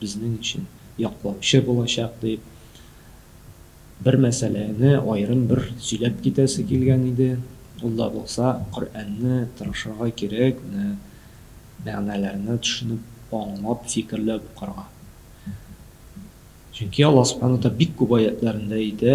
безнең өчен яклаучы булачак дип, бер мәсьәләне аерым бер сөйләп китәсе килгән иде, ул да булса, Коръәнне тырышырга кирәк, менә мәгънәләрне төшенеп, аңлап, фикерләп укырга. Чөнки Аллаһ Сүбхәнәһү ва Тәгалә бик күп аятьләрендә әйтә,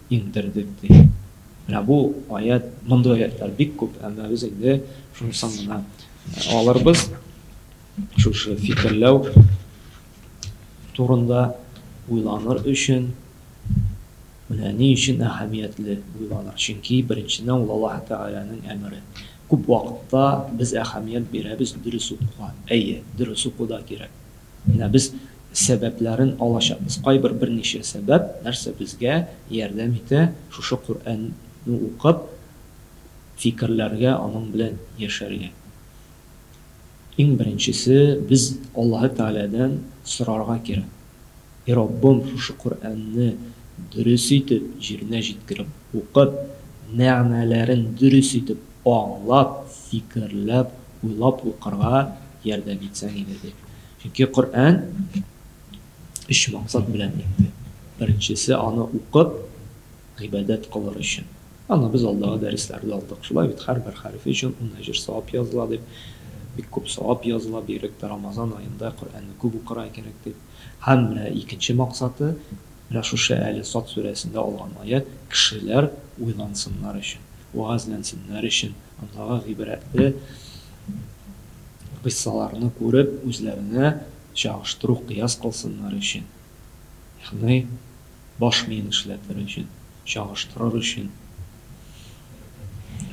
Интердек ди. Менә бу аять, мондый аятлар бик күп, әмма без инде шунысын гына алырбыз, шушы фикерләү турында уйланыр өчен, менә ни өчен әһәмиятле уйланыр, чөнки беренчедән ул Аллаһы Тәгаләнең әмере. Күп вакытта без әһәмият бирәбез дөрес укуга, әйе, дөрес уку да кирәк. Менә без сәбәпләрен алачакбыз. Кайбер берничә сәбәп, нәрсә безгә ярдәм итә шушы Коръәнне укып фикерләргә, аның белән яшәргә. Иң беренчесе, без Аллаһы Тәгаләдән сорарга кирәк. И Раббым, шушы Коръәнне дөрес итеп җиренә җиткереп укып, мәгънәләрен дөрес итеп аңлап, фикерләп, уйлап укырга ярдәм итсәң иде, ди. Чөнки Коръән өч максат белән инде. Беренчесе, аны укып, гыйбадәт кылыр өчен. Аны без алдагы дәресләрдә алдык, шулай бит, һәрбер хәрефе өчен ун әҗер, савап языла дип. Бик күп савап языла, бигрәк тә Рамазан аенда Коръәнне күп укырга кирәк дип. Һәм менә икенче максаты, менә шушы әле Сад сүрәсендә алган аять, кешеләр уйлансыннар өчен, вәгазьләнсеннәр өчен, андагы гыйбрәтле кыйссаларны күреп, үзләренә чагыштыру, кыяс кылсыннар өчен, ягъни баш миен эшләтер өчен, чагыштырыр өчен,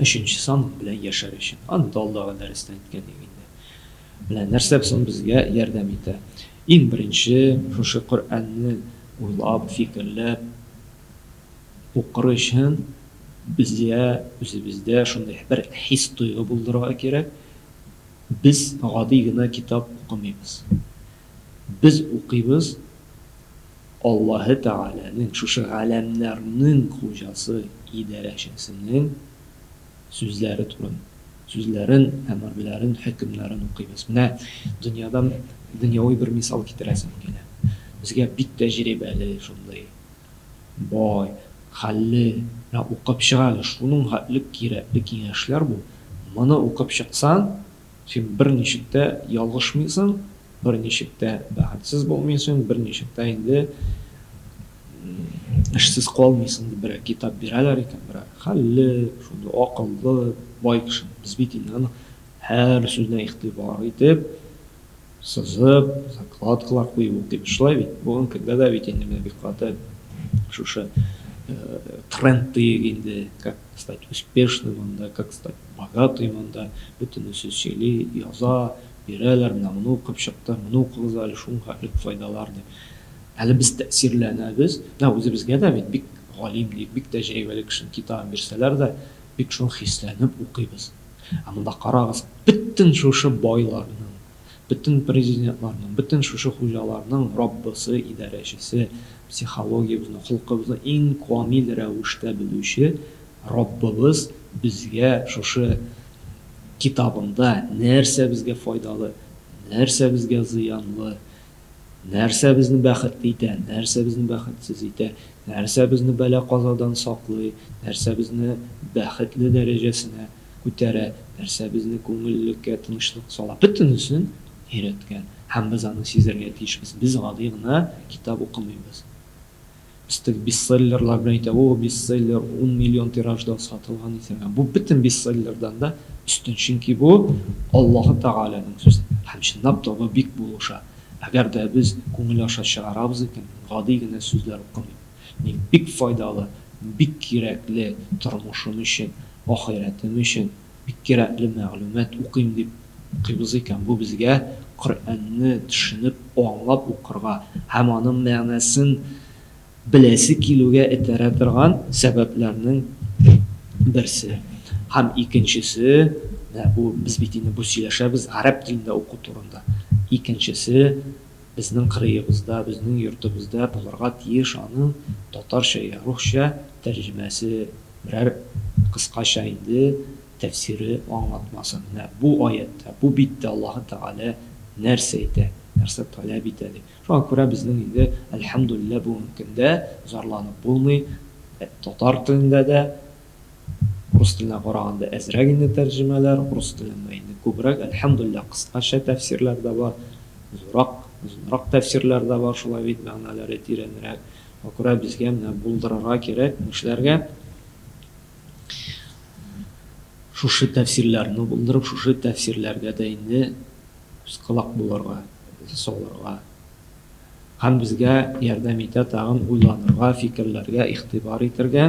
өченче сан белән яшәр өчен. Аны да алдагы дәрестә әйткән идек инде. Менә нәрсә соң безгә ярдәм итә. Иң беренче, шушы Коръәнне уйлап, фикерләп укыр өчен безгә үзебездә шундый бер хис-тойгы булдырырга кирәк, без гади генә китап укымыйбыз. Без укыйбыз Аллаһы Тәгаләнең, шушы галәмнәрнең хуҗасы, идарәчесенең Сүзләре турын. Сүзләрен, әмерләрен, хөкемнәрен укыйбыз. Менә дөньядан дөньяви бер мисал китерәсем килә. Безгә бик тәҗрибәле, шундый бай, хәлле, менә укып чык әле, шуның хәтле кирәкле киңәшләр бу. Моны укып чыксаң, Син берничек тә ялгышмыйсың, берничек тә бәхетсез булмыйсың, берничек тә инде эшсез калмыйсың, дип берәр китап бирәләр икән, берәр хәлле, шундый акыллы, бай кешене. Без бит инде аның һәр сүзенә игътибар итеп, Сызып, закладкалар кую дип шулай бит. Бүген көндә дә бит инде менә бик каты шушы тренд диек инде, как стать успешным анда, как стать богатым анда, бөтенесе сөйли, яза, бирәләр, менә моны укып чыкты, моны укыгыз әле, шуңа элек файдалар дип. Әле без тәэсирләнәбез. Менә үзебезгә дә бит бик галим диек, бик тәҗрибәле кешенең китабын бирсәләр дә, бик шуны хисләнеп укыйбыз. Ә монда карагыз, бөтен шушы байларның, бөтен президентларның, бөтен шушы хуҗаларның Раббысы, идарәчесе, психологиябезне, холкыбызны иң камил рәвештә белүче Раббыбыз безгә шушы Китабында нәрсә безгә файдалы, нәрсә безгә зыянлы, Нәрсә безне бәхетле итә, нәрсә безне бәхетсез итә, нәрсә безне бәла-казадан саклый, нәрсә безне бәхетле дәрәҗәсенә күтәрә, нәрсә безне күңеллеккә тынычлык сала, бөтенесен өйрәткән. Һәм без аны сизәргә тиешбез. Без гади гына китап укымыйбыз. Өстәп бестселлерлар белән әйтә, О, бестселлер, ун миллион тиражда сатылган исән. Ә бу бөтен бестселлердан да өстен, чөнки бу, Аллаһы Тәгаләнең сүзе. Һәм чынлап та бу бик булыша. Әгәр дә без күңел аша чыгарабыз икән, мин гади генә сүзләр укымыйм. Мин бик файдалы, бик кирәкле тормышым өчен, ахирәтем өчен, Бик кирәкле мәгълүмат, укыйм дип укыйбыз икән, бу безгә Коръәнне төшенеп, аңлап укырга һәм аның мәгънәсен беләсе килүгә этәрә торган сәбәпләрнең берсе. Һәм икенчесе, менә бу, без бит инде бу сөйләшәбез гарәп телендә уку турында, икенчесе, Безнең кырыебызда, безнең йортыбызда булырга тиеш аның татарча йә русча тәрҗемәсе, берәр кыскача инде тәфсире, аңлатмасы. Менә бу аятьтә, бу биттә Аллаһы Тәгалә нәрсә әйтә, нәрсә таләп итә дип. Шуңа күрә безнең инде, әлхәмдүлилләһ, бүгенге көндә зарланып булмый, татар телендә дә Рус теленә караганда әзрәк инде тәрҗемәләр, урыс телендә инде күбрәк, әлхәмдүлилләһ, кыскача тәфсирләр дә бар, зуррак, озынрак тәфсирләр дә бар, шулай бит, мәгънәләре тирәнрәк. Шуңа күрә безгә менә булдырырга кирәк, нишләргә? Шушы тәфсирләрне булдырып, шушы тәфсирләргә дә инде күз-колак булырга, салырга. Һәм безгә ярдәм итә тагын уйланырга, фикерләргә, игътибар итәргә.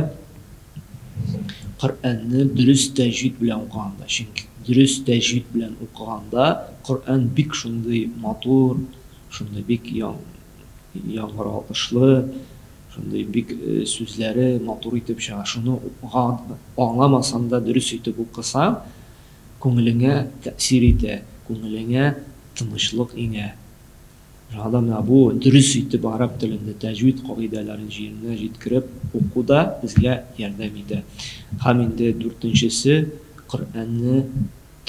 Коръәнне дөрес тәҗвид белән укыганда, чөнки дөрес тәҗвид белән укыганда Коръән бик шундый матур, шундый бик яңгыратлы, шундый бик сүзләре матур итеп чыга. Шуны аңламасаң да дөрес итеп укысаң, Күңелеңә тәэсир итә, күңелеңә тынычлык иңә. Шуңа да менә бу дөрес итеп гарәп телендә тәҗвид кагыйдәләрен җиренә җиткереп уку да безгә ярдәм итә. Һәм инде дүртенчесе, Коръәнне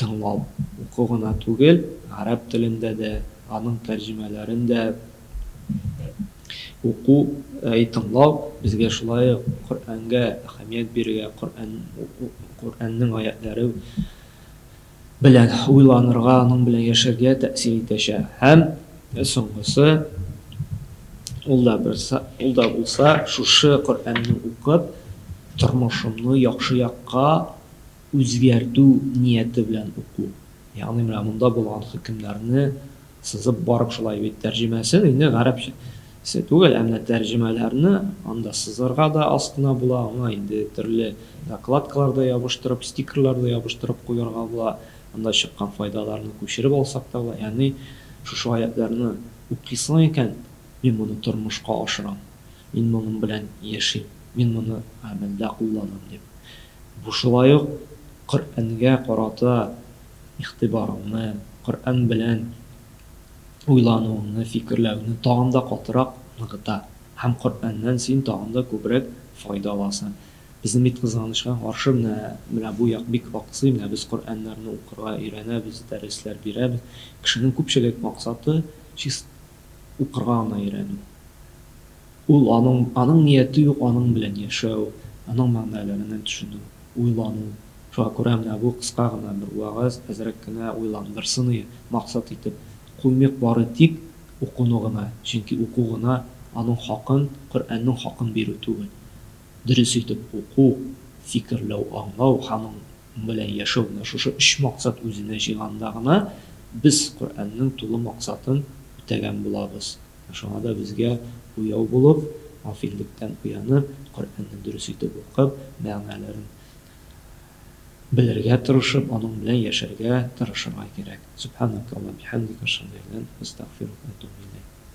тыңлау. Уку гына түгел, гарәп телендә дә, аның тәрҗемәләрен дә. Уку, әй тыңлау, безгә шулай ук Коръәнгә әһәмият бирергә, Коръәннең аятьләре белән уйланырга, аның белән яшәргә тәэсир итәчәк. Һәм соңгысы, ул да берса, ул да булса, шушы Коръәнне укып, тормышымны яхшы якка үзгәртү нияте белән уку. Ягъни менә монда булган хөкемнәрне Сызып барып шулай бит тәрҗемәсен инде гарәпчә се түгел, ә менә тәрҗемәләрне анда сызырга да астына була, аңа инде төрле закладкалар да ябыштырып, стикерлар да ябыштырып куярга була, анда чыккан файдаларны күчереп алсак та була. Ягъни шушы аятьләрне укыйсың икән, мин моны тормышка ашырам, мин моның белән яшим, мин моны гамәлдә кулланам дип. Бу шулай ук Коръәнгә карата игътибарыңны, Коръән белән уйлануыңны, фикерләүеңне тагын да катырак ныгыта һәм Коръәннән син тагын да күбрәк файда аласың. Безнең бит, кызганычка каршы, менә, менә бу як бик аксый, менә без Коръәннәрне укырга өйрәнәбез, дәресләр бирәбез. Кешенең күпчелек максаты, чис. укырга гына өйрәнү. Ул аның, аның нияте юк, аның белән яшәү, аның мәгънәләренә төшенү, уйлану. Шуңа күрә менә бу кыска гына бер вәгазь әзрәк кенә уйландырсын ие, максат итеп куймыйк бары тик укуны гына, чөнки уку гына аның хакын, Коръәннең хакын бирү түгел. Дөрес итеп уку, фикерләү, аңлау һәм аның белән яшәү менә шушы өч максат үзенә җыйганда гына без Коръәннең тулы максатын үтәгән булабыз. Менә шуңа да безгә уяу булып, гафиллектән уянып, Коръәнне дөрес итеп укып, мәгънәләрен белергә тырышып, аның белән яшәргә тырышырга кирәк. Сүбханәкалла, бихәмдик, әшһадү әллә, әстәгъфирүк, әтүбү иләйк.